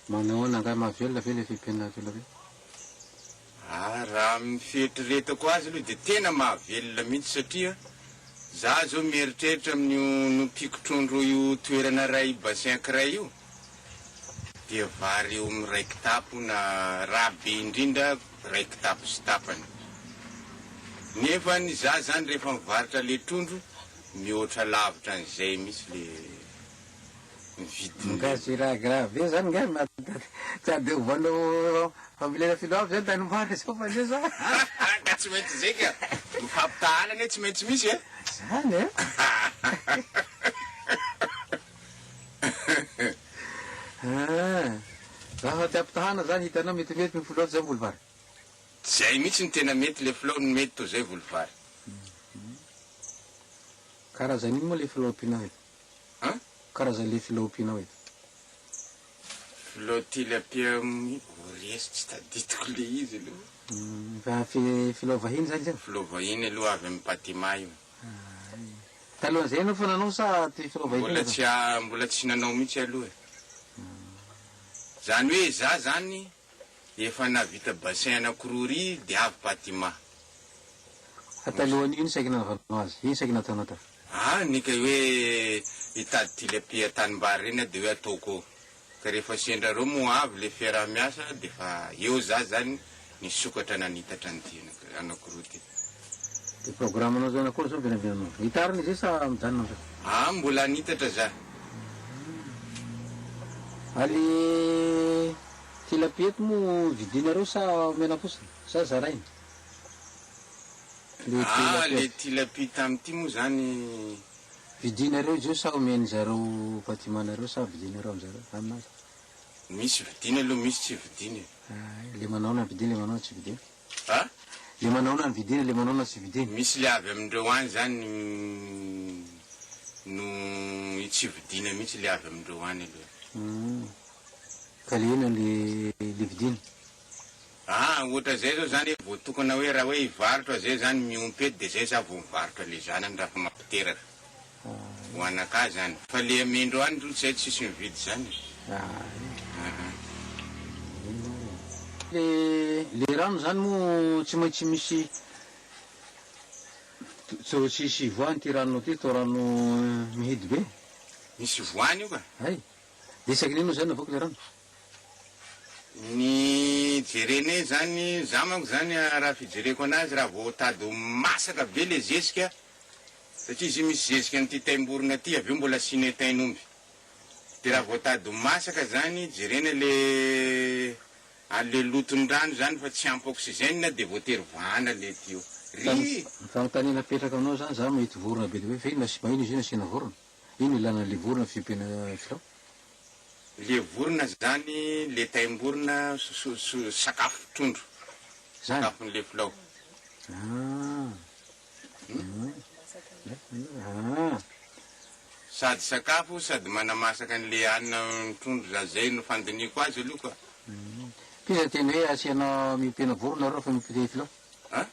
Manahoana angaha mahavelona ve ilay fiompiana velireo? Ah, raha amin'ny fieritreretako azy aloha dia tena mahavelona mihitsy satria za zao mieritreritra amin'io nompiako trondro io toerana iray bassin ankiray io dia vary eo amin'ny iray kitapo na raha be indrindra iray kitapo sy tapany. Nefa ny za zany rehefa mivarotra le trondro Mihoatra lavitra an'izay mihitsy le ny vidiny. Nga tsy raha grave be zany nga na tsy ade ovanao fambolena filoha aby zany tany moara zao fa nge sa. Ka tsy maintsy zay ka! Ny fampitahaana anie tsy maintsy misy e! Zany an! Raha tsy ampitahana zany hitanao metimety ny filoha tsy zany Bolivar? Zay mihitsy no tena mety le filao no mety toy zay voly vary. Karazan ino moa le filao ampianao eto? An? Karazan le filao ampianao eto? Filao tilapia amin'ny ories tsy tadidiko le izy aloha. Filao vahiny zany izy io? Filao vahiny aloha avy amin'ny patima io. Talohan'izay ianao efa nanao sa ty filao vahiny io efa? Mbola tsy nanao mihitsy aloha e. Zany hoe za zany. Efa navita bassin anakiroa ry dia avy Patima. Fa talohan'io iny saiky nanaovanao azy? Iny saiky nataonao ta. Aa ny kay hoe hitady tilapia tanimbary ireny aho dia hoe ataoko eo. Ka rehefa sendra reo moa avy ilay fiaraha-miasa dia efa eo za izany nisokatra nanitatra an'ity anakiroa ity. Dia programme-nao izany akory izao ny vinavinainao? Hitarina izy io sa mijanona amin'izao? Aa mbola hanitatra za. Ally. Tilapia eto moa vidinareo sa omena fotsiny? Sa zaraina? Le tilapia. Ah le tilapia tamty moa zany. Vidinareo izy io sa omen zareo Fatima nareo sa vidinareo amzareo aminazy? Misy vidina aloha misy tsy vidina e. Ay le manao na vidina le manao na tsy vidina. A? Le manao na vidina le manao na tsy vidina. Misy le avy amindreo any zany no tsy vidina mihitsy le avy amindreo any aloha. Hum. Ka le inona le le vidiny? Aa ohatra zay zao zany vao tokana hoe raha hoe hivarotra zay zany miompy eto de zay za vao mivarotra le zanany raha fa mampiteraka ho anakah zany fa le amindro any zao zay tsisy mividy zany aa. Le le rano zany moa tsy maintsy misy to tsisy voany ty rano ty to rano mihidy be? Misy voany io ka. Hay. Dia isaky ny inona izany navoaka ilay rano? Ny jerenay izany, izaho manko izany raha fijereko an'azy raha vao tady ho masaka be ilay zezika, satria izy io misy zezika an'ity taim-borona ity avy eo mbola asianay tain'omby, dia raha vao tady ho masaka izany jerena ilay an'ilay loton'ny rano izany fa tsy ampy oxygène dia voatery vahana ilay tuyau. Ry! Ny fanontaniana apetrako aminao izany, izaho mahita vorona be dia be fa inona sy mahina izy io no asiana vorona? Ino ilana le vorona fiompiana filao? Le vorona zany le taimborona sakafo trondro sakafon le filao. Sady sakafo sady manamasaka an le hanina ny trondro za zay no fandinihiko azy aloha ka. Mpiza teny hoe asiana miompiana vorona reo fa miompiana filao? An?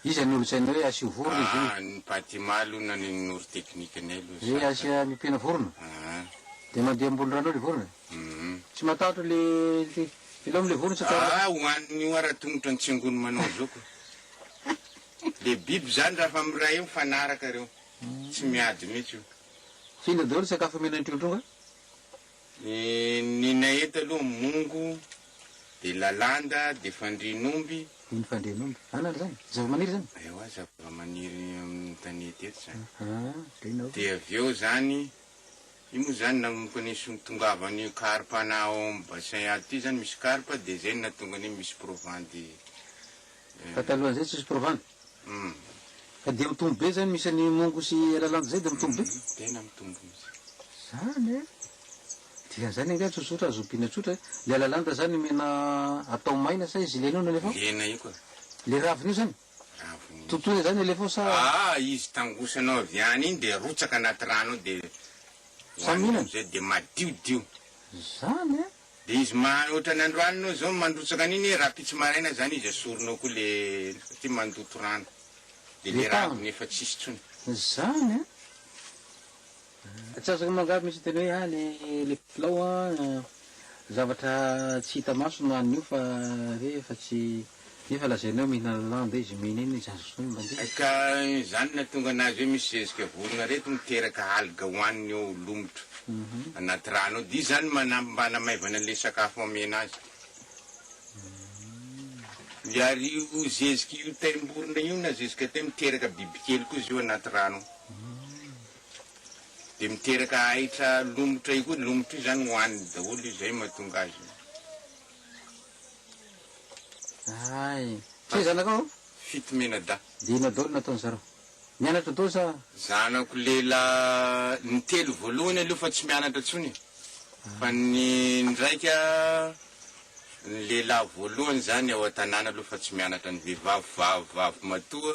Iza no nolazainao hoe asio vorona izy io? Ah, ny Patima aloha naninon'ory technique ny aloha. Dia asia ampiana vorona? Ah. Dia mandeha ambony rano ao le vorona? Hum. Tsy matahotra le le ilay amin'ilay vorona tsy atao. Ah, hohaniny io ara tongotra ny tsingony manao zoky. Le biby izany raha fa miray eo mifanaraka ireo. Tsy miady mihitsy io. Fa inona daholo ny sakafo omena ny trondro? Ny nay eto aloha mongo, dia lalanda, dia fandrian'omby. Iny fandrian'omby. Anona ry zany? Zavamaniry zany? Ewa zavamaniry amin'ny tanety eto zany. Aha, dia avy eo zany, io moa zany nanomboka nisontongavany carpe-na ao amin'ny bassin ato ity zany misy carpe dia zay no nahatonga ny hoe misy provandy. Fa talohan'izay tsisy firovana. Fa dia mitombo be izany misy an'i Mongo sy Eralandy izay dia mitombo be? Tena mitombo mihitsy. Izany an! Dikan'izany angaha tsotsotra azo ompiana tsotra e! Ilay alalanda izany omena atao maina sa izy lena io no alefa ao? Lena io ka. Ilay raviny io izany? Raviny io. Totoina izany alefa ao sa? Aa izy tangosanao avy any iny dia arotsaka anaty rano ao dia hohanina amin'izay dia madiodio. Izany an! Dia izy mahay otrany androany no zao mandrotsaka an'iny rapitsy maraina zany izy esorinao koa le satria mandoto rano dia le raviny efa tsisy tsony. Zany an! Tsy azoko mangaby mintsy ny tena hoe any le kilao an! zavatra tsy hita maso no anio fa re efa tsy. Nefa lazainy hoe mihinana lamba izy, mihinina izy, azo sony mba dia. Ka izany nahatonga anazy hoe misy zezika vorona reto miteraka algue hoaniny eo lomotra anaty rano ao dia izany manampy mba hanamaivana an'ilay sakafo amena azy. Miary io zezika io taimborona io na zezika tay miteraka bibikely koa izy io anaty rano ao. Dia miteraka ahitra lomotra io koa, lomotra io izany hoaniny daholo io izay mahatonga azy. Hay. Tsia zanakao an? Fito menadahy. Dia inona daholo no nataon'i zareo? Nianatra daholo sa? Zanako lehilahy ny telo voalohany aloha fa tsy mianatra intsony e. Fa ny ndraika, ny lehilahy voalohany izany ao an-tanàna aloha fa tsy mianatra, ny vehivavy vavy vavy matoa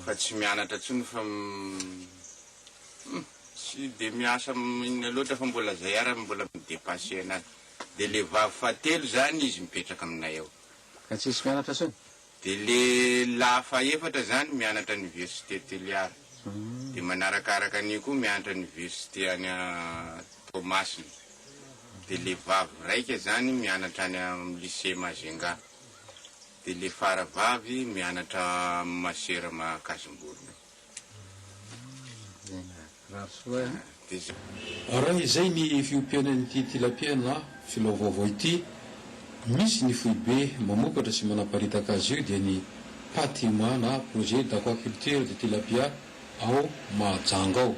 fa tsy mianatra intsony fa hum tsy dia miasa inona loatra fa mbola izay ara mbola mi-depasser anazy. Dia le vavy fahatelo zany izy mipetraka aminay ao. Ka tsisy mianatra tsony? Dia le lahy fahefatra zany mianatra anivesite Toliara. Dia manarakaraka an'io koa mianatra anivesite any Toamasina. Dia le vavy raika zany mianatra any am lycée Majunga. Dia le fara vavy mianatra am masera Makazimborona. Raha izay ny fiompiana an'ity tilapia na filao vaovao ity, misy ny foibe mamokatra sy manaparitaka azy io dia ny Patima na Projet d'Aquaculture de Tilapia ao Mahajanga ao.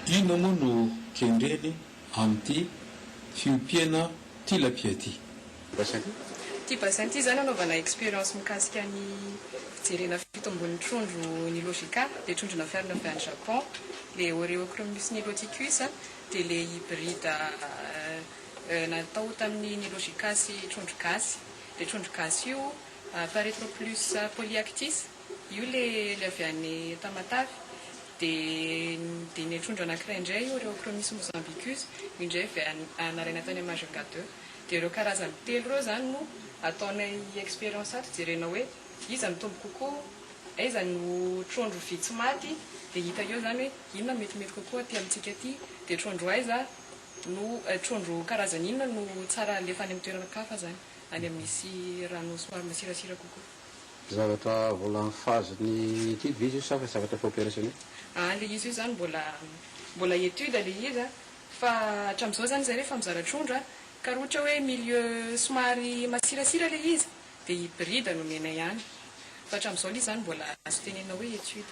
Inona moa no kendreny amin'ity fiompiana tilapia ity. Basin ty. Ty basin ty zany anaovana experience mikasika ny fijerena fitombon'ny trondro Nilogica, le trondro nafarana avy any Japon, le Oreochromis niloticus a, de le hybride natao tamin'ny Nilogica sy trondro gasy, le trondro gasy io Paretroplus polyactis, io le avy any Tamatave. Dia dia ny trondro anankiray indray io Rheochromis mozambicus, io indray avy any nalaina tany Majunga ii. Dia ireo karazany telo ireo izany no ataonay expérience ato jerena hoe iza no tombo kokoa, aiza no trondro vitsy maty, dia hita eo izany hoe inona no metimety kokoa aty amintsika aty, dia trondro aiza no, trondro karazany inona no tsara alefa any amin'ny toeran-kafa izany, any amin'ny misy rano somary masirasira kokoa. Zavatra mbola am phase ny étude ve izy io sa fa zavatra efa opérationnel? Aa le izy io zany mbola mbola étude le izy a fa atramzao zany zay refa mizara trondro a ka ra ohatra oe milieu somary masirasira le izy de hybride no omenay any fa atramzao le izy zany mbola azo tenenina oe étude.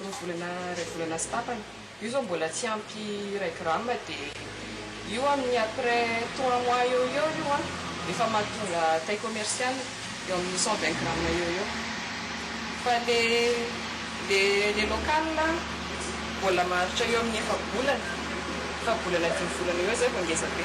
Roa volana, iray volana sy tapany. Io zao mbola tsy ampy iray gramme dia io amin'ny après trois mois eo ho eo io an, efa mahatonga taille commercial eo amin'ny cent vingt gramme eo ho eo. Fa le le le local mbola maharitra eo amin'ny efa-bolana, efa-bolana dimy volana eo ho eo zay vao ngezabe.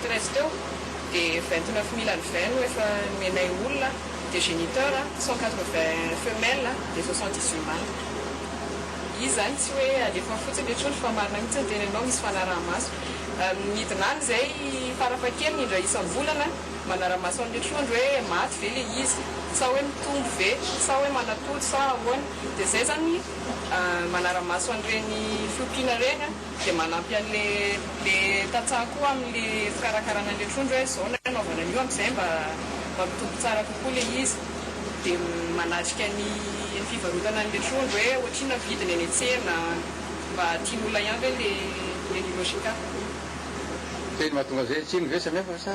Treize teo de vingt neuf mille and vingt no efa nomenay olona de geniteur cent quatre vingt femelle de soixante dix huit manda izy zany tsy hoe alefa fotsiny le trondro fa marina mihitsy ny teninao misy fanarahamaso midina any zay farafahakeliny indray isambolana manaramaso anle trondro hoe maty ve le izy sa hoe mitombo ve sa hoe manatody sa ahoana de zay zany manaramaso anreny fiompiana reny an. Dia manampy an'ilay tantsaha koa amin'ny fikarakarana an'ilay trondro hoe izao no hanaovana an'io amin'izay mba mampitombo tsara kokoa ilay izy. Dia manatrika ny fivarotana an'ilay trondro hoe ohatrinona ny vidiny eny an-tsena, mba tian'olona ihany ve ilay Niloshika. Teny mahatonga an'izay tsiny ve samihafa sa?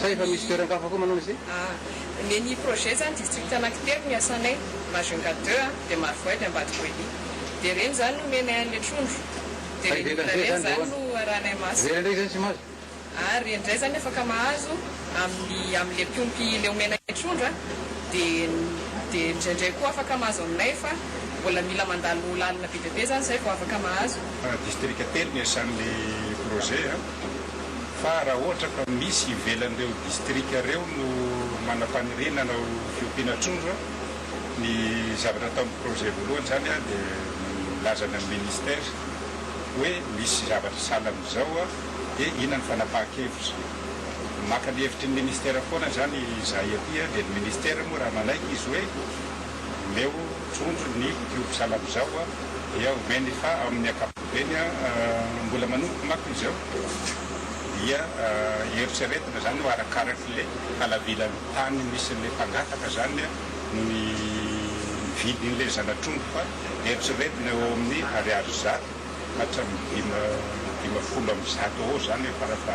sa efa misy toeran-kafa koa manao izay? Nen'ny projet zany district anakitelo ny asanay majunga deux a de marovoay de ambadiko ely de reny zany no omenay anle trondro de reny olona reny zany no arahanay maso Ivelany ndray zany tsy mahazo? Ary reny ndray zany afaka mahazo amin'ny amle mpiompy le omenay trondro a de de ndraindray koa afaka mahazo aminay fa mbola mila mandalo lalana be dia be zany zay vao afaka mahazo. District telo ny asan'le projet a. fa raha ohatra ka misy ivelan'ireo distrika ireo no manam-paniriana ho fiompiana trondro, ny zavatra ataon'ny projet voalohany izany dia milazana ny ministère hoe misy zavatra sahala amin'izao dia inona ny fanapahan-kevitra. Maka ny hevitry ny ministère foana izany izahay aty dia ny ministère moa raha manaiky izy hoe omeo trondro ny mpiompy sahala amin'izao dia omeny fa amin'ny ankapobeny. Eny a, mbola manomboka manko izy eo dia eritreretina izany hoe arakarak'ilay halavilan'ny tany misy an'ilay mpangataka izany no ny vidin'ilay zana-trondro fa eritreretina eo amin'ny ariary zato hatramin'ny dima, dimafolo amby zato eo ho eo izany farafaha.